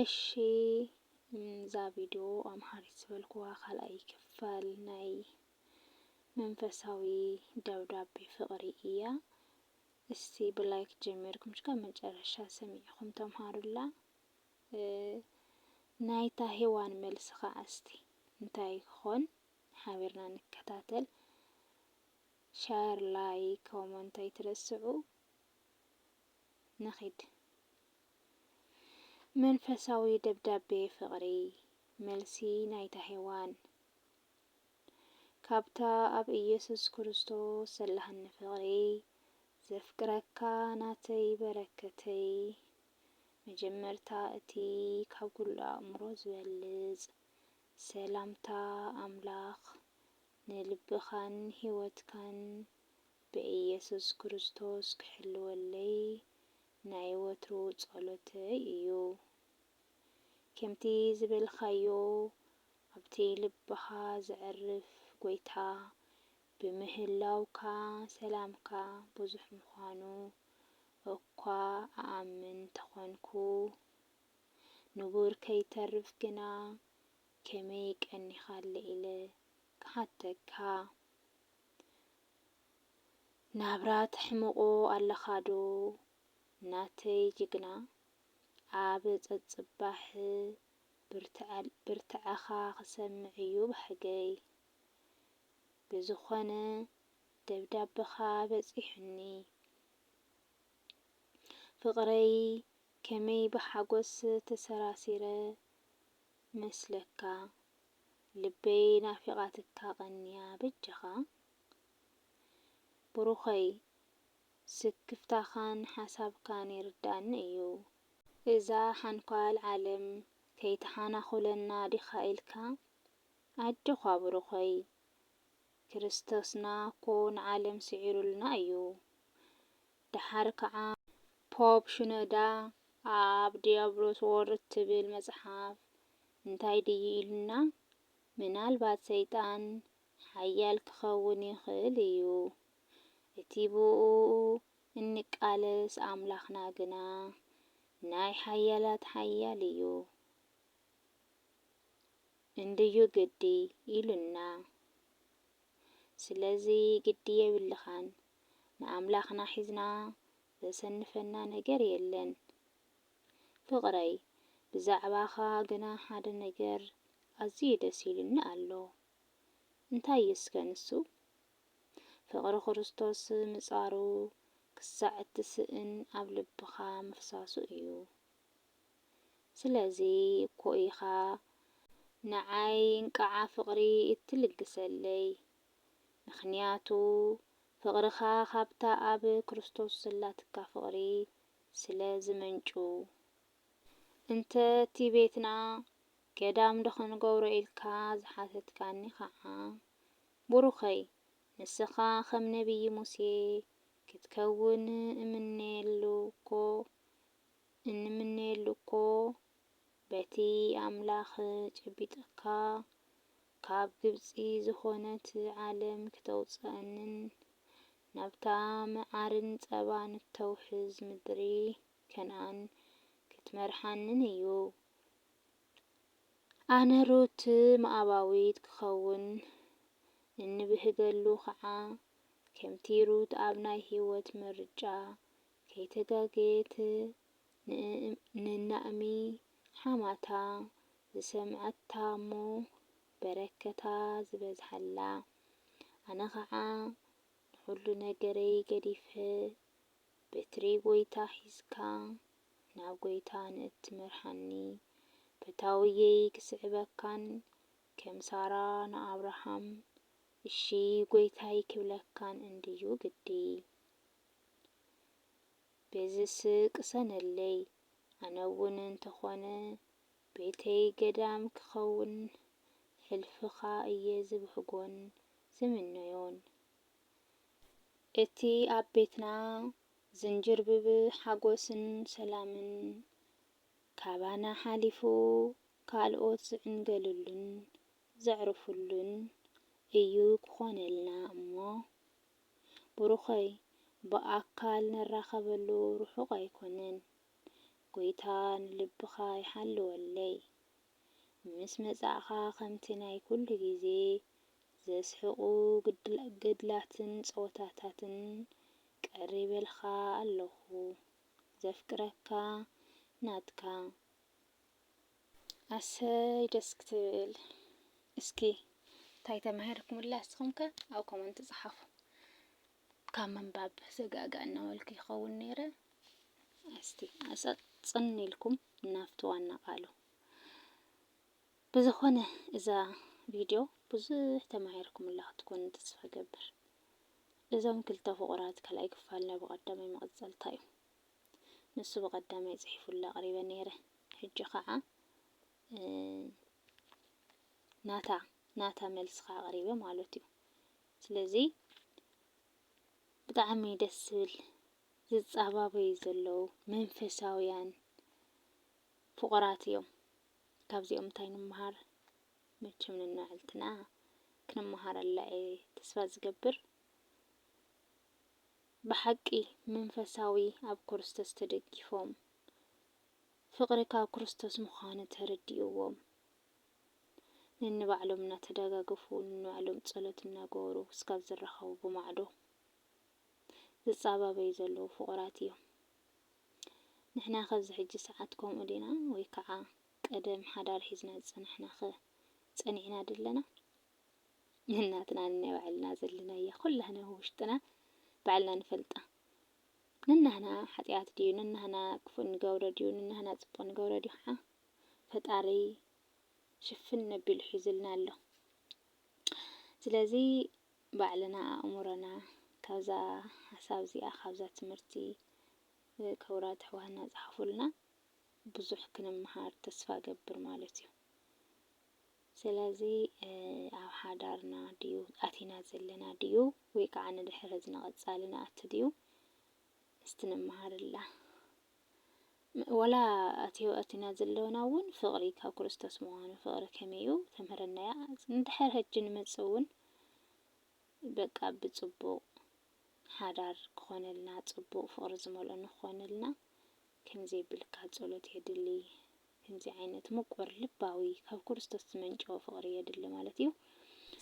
እሺ እዛ ቪድዮ ኣምሃሪት ዝበልኩዋ ካልኣይ ክፋል ናይ መንፈሳዊ ደብዳቤ ፍቕሪ እያ። እስቲ ብላይክ ጀሚርኩም ሽካ መጨረሻ ሰሚዕኹም ተምሃሩላ። ናይታ ሄዋን መልሲ ከዓ እስቲ እንታይ ይኾን ሓቢርና ንከታተል። ሻር ላይክ ኮመንት ኣይትረስዑ። ንኺድ። መንፈሳዊ ደብዳቤ ፍቕሪ፣ መልሲ ናይታ ሄዋን ካብታ ኣብ ኢየሱስ ክርስቶስ ዘላትኒ ፍቕሪ፣ ዘፍቅረካ ናተይ በረከተይ፣ መጀመርታ እቲ ካብ ኩሉ ኣእምሮ ዝበልጽ ሰላምታ ኣምላኽ ንልብኻን ሕይወትካን ብኢየሱስ ክርስቶስ ክሕልወለይ ናይ ወትሩ ጸሎተይ እዩ። ከምቲ ዝበልካዮ ኣብቲ ልብኻ ዘዕርፍ ጎይታ ብምህላውካ ሰላምካ ብዙሕ ምዃኑ እኳ እኣምን ተኾንኩ ንቡር ከይተርፍ ግና ከመይ ቀኒኻለ ኢለ ክሓተካ። ናብራ ተሕምቆ ኣለኻ ዶ ናተይ ጅግና ኣብ ጸጽባሕ ብርትዐኻ ክሰምዕ እዩ ባህገይ ብዝኾነ ደብዳብኻ በጺሑኒ ፍቅረይ ከመይ ብሓጎስ ተሰራሲረ መስለካ ልበይ ናፊቃትካ ቀንያ በጃካ ብሩከይ ስክፍታካን ሓሳብካን ይርደኣኒ እዩ። እዛ ሓንኳል ዓለም ከይትሓናኹለና ዲኻ ኢልካ ኣጆዃ ብሩኸይ ክርስቶስና እኮ ንዓለም ስዒሩልና እዩ ደሓር ከኣ ፖፕ ሽኖዳ ኣብ ዲያብሎስ ወርድ እትብል መጽሓፍ እንታይ ድዩ ኢሉና? ምናልባት ሰይጣን ሓያል ክኸውን ይኽእል እዩ፣ እቲ ብእኡ እንቃለስ ኣምላኽና ግና ናይ ሓያላት ሓያል እዩ እንድዩ ግዲ ኢሉና። ስለዚ ግዲ የብልኻን። ንኣምላኽና ሒዝና ዘሰንፈና ነገር የለን። ፍቕረይ፣ ብዛዕባኻ ግና ሓደ ነገር ኣዝዩ ደስ ኢሉኒ ኣሎ። እንታይ እዩ እስከ ንሱ? ፍቕሪ ክርስቶስ ምጻሩ ክሳዕ እትስእን ኣብ ልብኻ ምፍሳሱ እዩ። ስለዚ እኮ ኢኻ ንዓይ እንቅዓ ፍቕሪ እትልግሰለይ። ምኽንያቱ ፍቕርኻ ኻብታ ኣብ ክርስቶስ ዘላትካ ፍቕሪ ስለ ዚመንጩ። እንተ እቲ ቤትና ገዳምዶ ኽንገብሮ ኢልካ ዝሓተትካኒ ኸኣ፣ ቡሩኸይ፣ ንስኻ ኸም ነብዪ ሙሴ ክትከውን እምነየሉ እኮ፣ እንምነየሉ እኮ በቲ ኣምላኽ ጨቢጥካ ካብ ግብጺ ዝኾነት ዓለም ክተውጽኣንን ናብታ መዓርን ጸባን እተውሕዝ ምድሪ ከነኣን ክትመርሓንን እዩ። ኣነ ሩት ሞኣባዊት ክኸውን እንብህገሉ ኸኣ፣ ከምቲ ሩት ኣብ ናይ ህይወት ምርጫ ከይተጋገየት ንናእሚ ሓማታ ዝሰምዐታ እሞ በረከታ ዝበዝሓላ ኣነ ከዓ ንኩሉ ነገረይ ገዲፈ በትሪ ጎይታ ሒዝካ ናብ ጎይታ ንእትመርሓኒ ፈታውየይ ክስዕበካን ከም ሳራ ንኣብርሃም እሺ ጎይታይ ክብለካን እንድዩ ግዲ በዚስ ቅሰነለይ ኣነውን እንተኾነ ቤተይ ገዳም ክኸውን ሕልፍኻ እየ ዝብህጎን ዝምነዮን። እቲ ኣብ ቤትና ዝንጅርብብ ሓጎስን ሰላምን ካባና ሓሊፉ ካልኦት ዝዕንገልሉን ዘዕርፍሉን እዩ ክኾነልና እሞ ብሩኸይ ብኣካል ንራኸበሉ ርሑቕ ኣይኮነን ጎይታ ንልብኻ ይሓልወለይ ምስ መጻእኻ ከምቲ ናይ ኩሉ ግዜ ዘስሕቑ ገድላትን ጸወታታትን ቀሪበልካ ኣለኹ ዘፍቅረካ ናትካ ኣሰይ ደስ ክትብል እስኪ እንታይ ተማሂርኩምላ እስኹም ከ ኣብ ኮመንት ጸሓፉ። ካብ ምንባብ ዘጋጋእ እናበልኩ ይኸውን ነይረ። እስቲ ኣጸጽን ኢልኩም ናብቲ ዋና ቃሉ። ብዝኾነ እዛ ቪድዮ ብዙሕ ተማሂርኩምላ ክትኮኑ ተስፋ ገብር። እዞም ክልተ ፍቑራት ካልኣይ ክፋል ናይ ብቐዳማይ መቐጸልታ እዩ። ንሱ ብቐዳማይ ጽሒፉላ ኣቕሪበ ነይረ። ሕጂ ኸኣ ናታ ናታ መልሲ ኸኣ ኣቕሪበ ማለት እዩ። ስለዚ ብጣዕሚ ደስ ዝብል ዝጻባበዩ ዘለዉ መንፈሳውያን ፍቑራት እዮም። ካብዚኦም እንታይ ንምሃር? መቸም ነንባዕልትና ክንመሃረላ እየ ተስፋ ዝገብር። ብሓቂ መንፈሳዊ ኣብ ክርስቶስ ተደጊፎም ፍቕሪ ካብ ክርስቶስ ምዃኑ ተረዲእዎም ነንባዕሎም እናተደጋገፉ ነንባዕሎም ጸሎት እናገበሩ ክስካብ ዝራኸቡ ብማዕዶ ዝጻባበዩ ዘለዉ ፍቑራት ኢዮም። ንሕናኸ ኣብዚ ሕጂ ሰዓት ከምኡ ዲና ወይ ከኣ ቀደም ሓዳር ሒዝና ዝጸናሕናኸ ጸኒዕና ደለና? ነናትና ነናይ ባዕልና ዘለናያ ኩላህና ኣብ ውሽጥና ባዕልና ንፈልጣ ንናህና ሓጥያት ድዩ ንናህና ክፉእ ንገብሮ ድዩ ንናህና ጽቡቅ ንገብሮ ድዩ ከኣ ፈጣሪ ሽፍን ነቢሉ ሒዙልና ኣሎ ስለዚ ባዕልና ኣእምሮና ካብዛ ሓሳብ እዚኣ ካብዛ ትምህርቲ ክቡራት ኣሕዋትና ጻሓፉልና ብዙሕ ክንምሃር ተስፋ ገብር ማለት እዩ። ስለዚ ኣብ ሓዳርና ድዩ ኣቲና ዘለና ድዩ ወይ ከዓ ንድሕሪ እዚ ንቐፃሊ ንኣቱ ድዩ እስቲ ንመሃረላ። ወላ እቲ ኣቲና ዘለና እውን ፍቕሪ ካብ ክርስቶስ ምዃኑ ፍቕሪ ከመይ እዩ ተምህረና እያ። ንድሕር ሕጂ ንመፅእ እውን በቃ ብፅቡቕ ሓዳር ክኾነልና ፅቡቕ ፍቕሪ ዝመልኦ ንክኾነልና ከምዘይብልካ ፀሎት የድሊ። ከምዚ ዓይነት ምቁር ልባዊ ካብ ክርስቶስ ዝመንጨወ ፍቅሪ የድሊ ማለት እዩ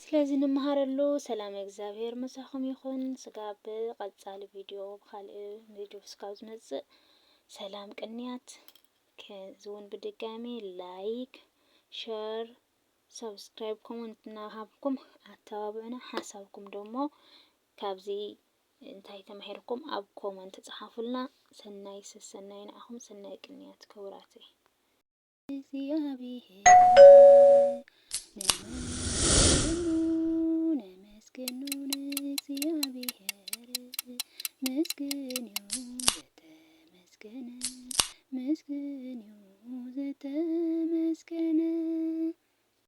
ስለዚ ንመሃረሉ ሰላም እግዚኣብሔር ምሳኹም ይኹን ስጋብ ብቀጻሊ ቪድዮ ብካልእ ቪድዮ ስጋብ ዝመጽእ ሰላም ቅንያት ከዝውን ብድጋሚ ላይክ ሸር ሳብስክራይብ ኮመንት እናሃብኩም ኣተባብዑና ሓሳብኩም ደሞ ካብዚ እንታይ ተማሂርኩም ኣብ ኮመንት ጸሓፉልና ሰናይ ሰሰናዩ ንዓኹም ሰናይ ቅንያት ክቡራተይ። እግዚኣብሔር